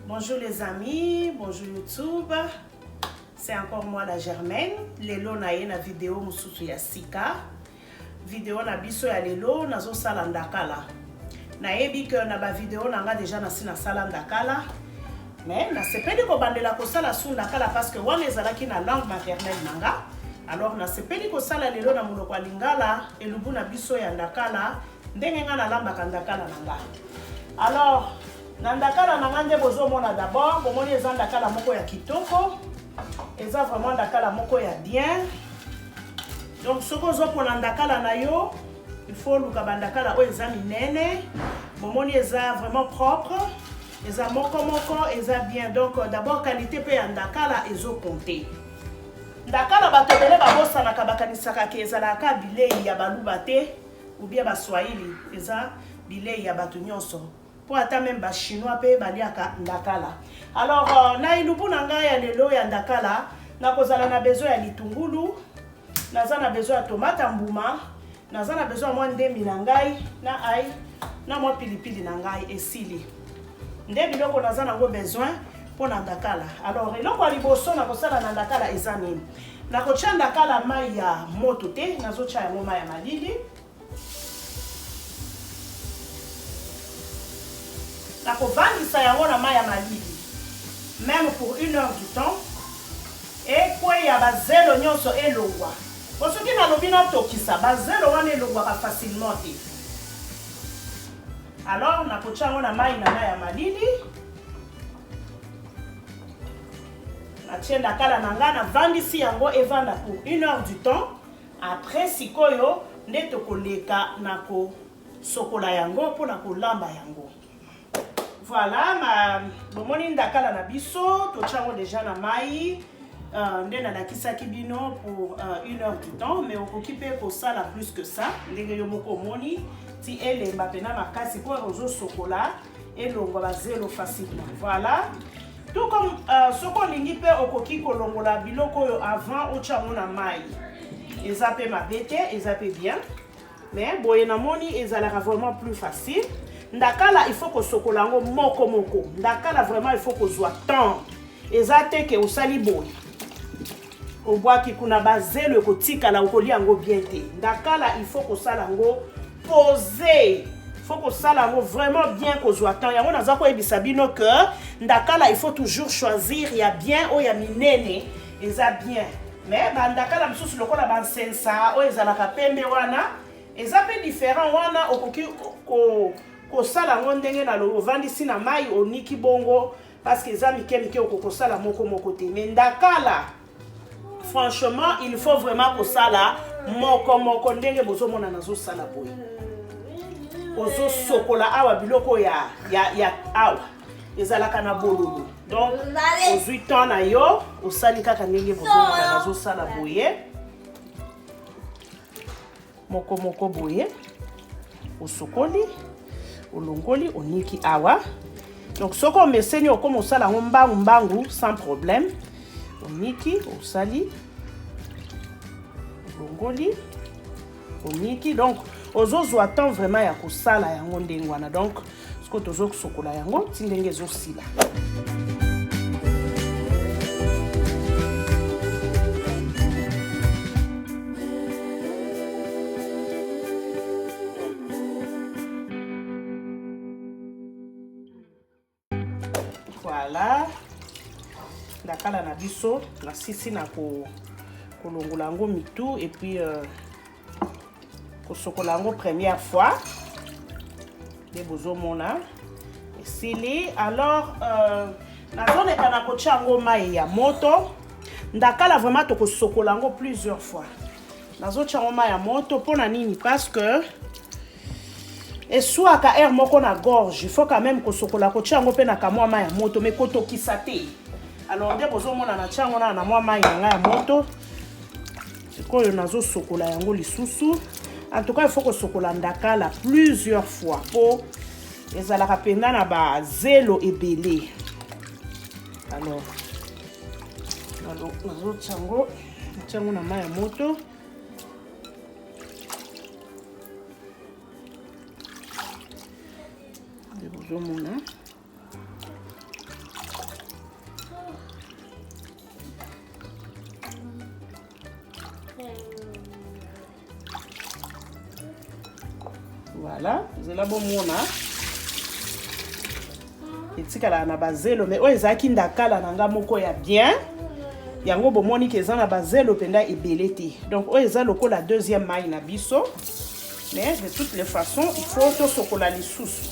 Bonjour les amis, bonjour YouTube. C'est encore moi la Germaine. Lelo na ye na vidéo mususu ya sika. Vidéo na biso ya lelo nazo sala ndakala. Nayebi que na ba vidéo na nga déjà na si na sala ndakala. Mais na sepeli ko bandela ko sala su ndakala parce que wana ezalaki na langue maternelle na nga. alors nasepeli kosala lelo na monoko ya lingala elubu na biso ya ndakala ndenge nga nalambaka ndakala na nga alors na ndakala na nga nde bozomona d'abord bomoni eza ndakala moko ya kitoko eza vraiment ndakala moko ya bien donc soki ozopona ndakala na yo il faut oluka bandakala oyo eza minene bomoni eza vraiment propre eza moko moko eza bien donc euh, d'abord qualité mpe ya ndakala ezokonte ndakala bato ebele babosanaka bakanisaka ke ezalaka bilei ya baluba te ou bien ba swahili eza bileyi ya batu nyonso po ata meme ba chinois pe baliaka ndakala alors euh, na elubu na ngai ya lelo ya ndakala nakozala na besoin ya litungulu naza na besoin ya tomate ya mbuma naza na besoin ya mwa ndemi na ngai na ai na mwa pilipili na ngai esili nde biloko naza nango besoin mpo na ndakala alors eloko ya liboso nakosala na ndakala eza nini Nakotya ndakala mai ya moto te, nazotya yango mai ya malili. Nakovandisa yango na mai ya malili meme pour une heure du temps ekweya bazelo nyonso elongwa po soki nalobi natokisa bazelo wana elongwaka facilement te alors nakotya yango na mai na mai ya malili natie ndakala na ngai navandisi yango evanda pour une heure du temps après sikoyo nde tokoleka na kosokola yango mpo na kolamba yango voilà ma bomoni ndakala na biso totya yango deja na mai uh, nde nalakisaki bino pour uh, une heure du temps mais okoki mpe kosala plus que ça ndenge yo moko omoni ti elemba mpena makasi mpo ozosokola elongwa ba zelo facilement voilà tout comme euh, soki olingi mpe okoki kolongola biloko oyo avant otya yango na mai eza mpe mabe te eza mpe bien mais boye namoni ezalaka vraiment plus facile ndakala il faut kosokola yango moko moko ndakala vraiment il faut kozwa temps eza te ke osali boye Obwaki kuna ba zelo ekotikala okolia yango bien te. Ndakala il faut kosala yango poser faut kosala yango vraiment bien kozwa temps yango naza koyebisa bino que ndakala il faut toujours choisir ya bien oyo ya minene eza bien mais bandakala mosusu lokola bansensa oyo ezalaka pembe wana eza mpe différent wana okoki kosala yango ndenge na ovandisi na mai oniki bongo parce que eza mike mike okokosala moko moko te mais ndakala franchement il faut vraiment kosala moko moko ndenge bozomona nazosala boye ozosokola awa biloko ya, ya, ya awa ezalaka na bololo donc ozwi temps na yo osali kaka ndenge bozomona nazosala boye moko moko boye osokoli olongoli oniki awa donc soki omeseni okoma osala yango mbangu mbangu sans problème oniki osali olongoli oniki donc ozozwa temps vraiment ya kosala yango ndenge wana donc sikoyo tozosokola yango ti ndenge ezosila voilà ndakala na biso nasisi na kolongola yango mitu epuis euh, kosokola yango première fois nde bozomona esili alors euh, nazoleka na kotya yango mai ya moto ndakala vraiment tokosokola yango plusieurs fois nazotya yango mai ya moto mpo na nini parce que eswaka aire moko na gorge il faut quand même kosokola kotya yango mpe na kamwa mai ya moto mai kotokisa te alors nde bozomona na tya yango na na mwa mai na ngai ya moto sikoyo nazosokola yango lisusu en tout cas il faut kosokola ndakala plusieurs fois mpo ezalaka mpenza na bazelo ebele alors nazotya yango natya yango na mai ya moto bozomona voilà zela bomona etikalaka na bazelo mai oyo ezalaki ndakala na ngai moko ya bien yango bomoni ke eza na bazelo mpenza ebele te donc oyo eza lokola deuxième mai na biso mais de toutes les façons il faut tosokola lisusu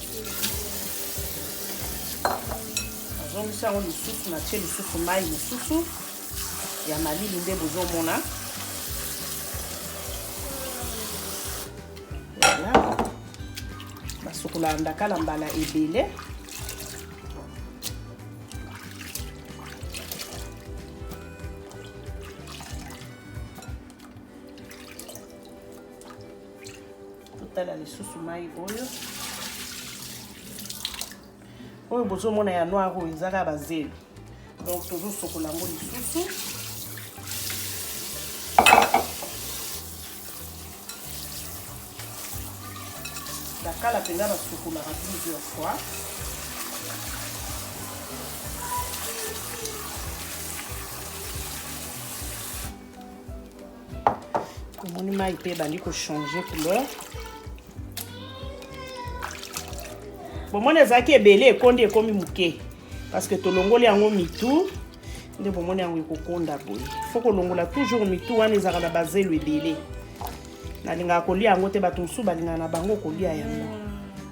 nazongisi yango lisusu natie lisusu mai mosusu ya malili nde bozomona voilà basokolaka ndakala mbala ebele totala lisusu mai oyo oyo bozomona ya noir oyo ezaka bazelu donc tozosokola yango lisusu bakala mpenza basukolaka plusieurs fois omoni mai mpe ebandi kochanger couleur bomoni ezalaki ebele ekondi ekomi moke parceke tolongoli yango mitu nde bomoni yango ekokonda boye fo kolongola toujours mitu wana ezalaka na bazelu ebele nalingaka kolia yango te bato mosusu balingaka na bango kolia yango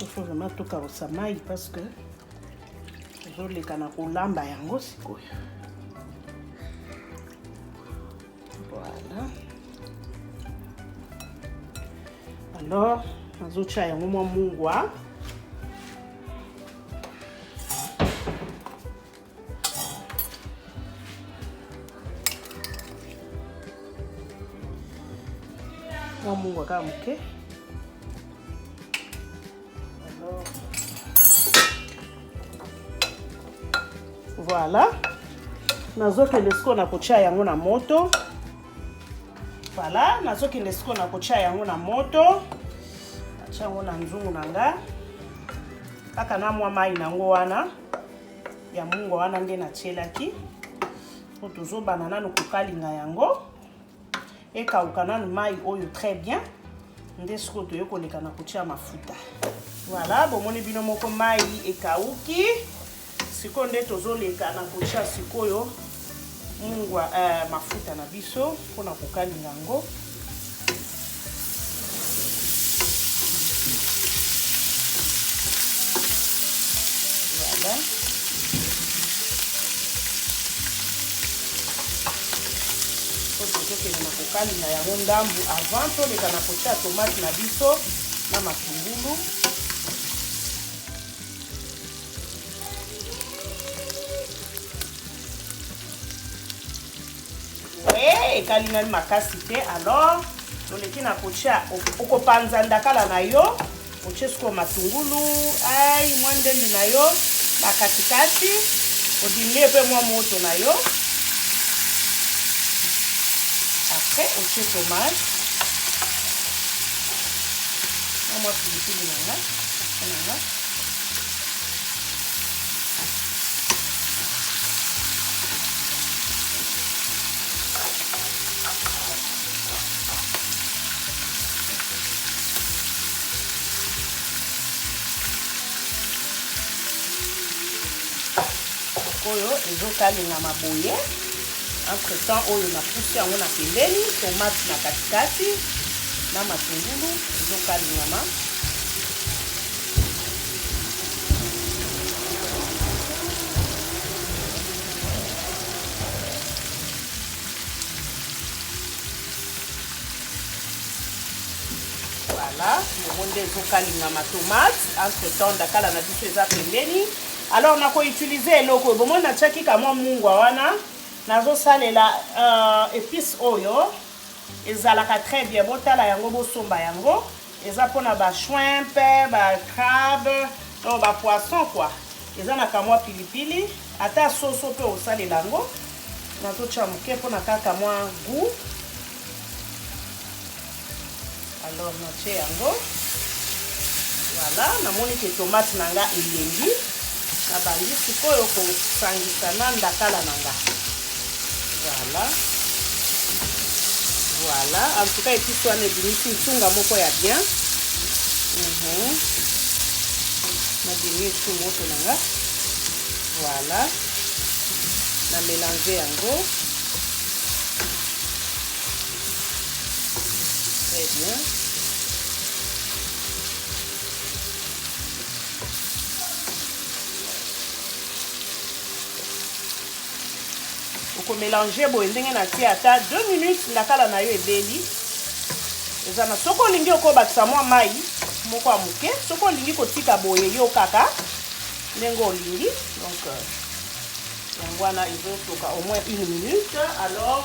il faut vraiment tokabosa mai parce que tozoleka na kolamba yango sikoyo voilà alors nazotya yango mwa mungwa mwa mungu kaka moke voilà nazokende sikoyo na kotya yango na moto voilà nazokende sikoyo na kotya yango na moto natya yango na nzungu na nga kaka na mwa mai na yango wana ya mungwa wana nde natyelaki mpo tozobana nano kokalinga yango ekauka nano mai oyo très bien nde sikoyo toye koleka na kotya mafuta voilà bomoni bino moko mai ekauki sikoyo nde tozoleka na kotya sikoyo Mungwa eh, mafuta na biso mpo na kokalinga yango tokende na kokalinga yango ndambu avant toleka na kotya tomate na biso na matungulu Eh, ekalingani makasi te alors toleki na kotia okopanza ndakala na yo otie sikoyo matungulu ai mwa ndembi na yo bakatikati odimie mpe mwa moto na yo apres otie tomate na mwa pilipili na nga na nga oyo ezokalingama boye entre temps oyo napusi yango na pembeni tomate na katikati na matungulu ezokalingama nde ezokalinga matomate entre temps ndakala na biso eza pembeni alors nakoutilize eloko oyo bomoni natiaki kamwa mungwa wana nazosalela uh, épice oyo ezalaka très bien botala yango bosomba yango eza pona ba shrimp ba crabe donc ba poisson quoi eza na kamwa pilipili ata soso mpe osalela yango nazotya moke mpona kaka mwa gout alors natye yango voilà namoni ke tomate na nga elengi Na bandi sikoyo ko sangisa na ndakala na nga. Voilà. Voilà. En tout cas, epice wana ebimisi nsunga moko ya bien. Mm -hmm. Na bimi esu moto na nga. Voilà. Na mélanger yango. Très bien. okomelange boye ndenge natie ata 2 minutes ndakala na yo ebeli eza na soki olingi okobakisa mwa mai moko ya moke soki olingi kotika boye yo kaka ndenge olingi donc euh, yango wana ezotoka au moins une minute alors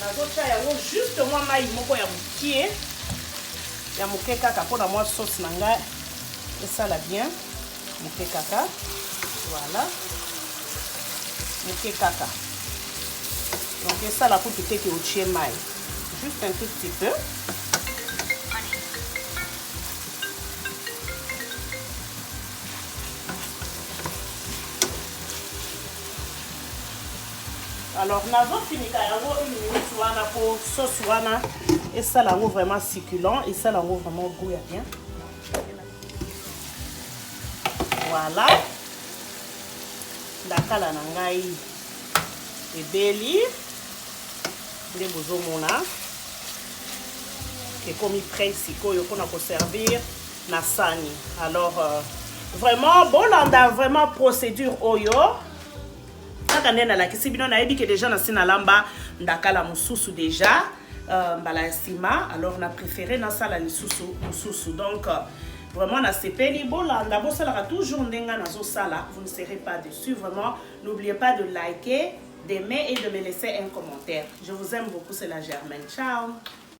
nazotya yango juste mwa mai moko ya mokie ya moke kaka mpo na mwa sauce na ngai esala bien moke kaka voilà moke kaka donc esala kutu te ke otie mai juste un tout petit peu alors nazofinika yango une minute wana mpo sauce wana esala yango vraiment succulent esala yango vraiment goût ya bien Voilà. Ndakala na ngai ebeli nde bozomona ekomi près sikoyo mpona koservir na sani alors euh, vraiment bolanda vraiment procédure oyo kaka nde nalakisi bino nayebi ke deja nasi nalamba ndakala mosusu deja euh, mbala ya sima alors na préféré nasala lisusu mosusu donc euh, vraiment nasepeli bolanda bosalaka toujours ndenge nazosala vous ne serez pas dessus vraiment n'oubliez pas de liker d'aimer et de me laisser un commentaire je vous aime beaucoup c'est la germaine ciao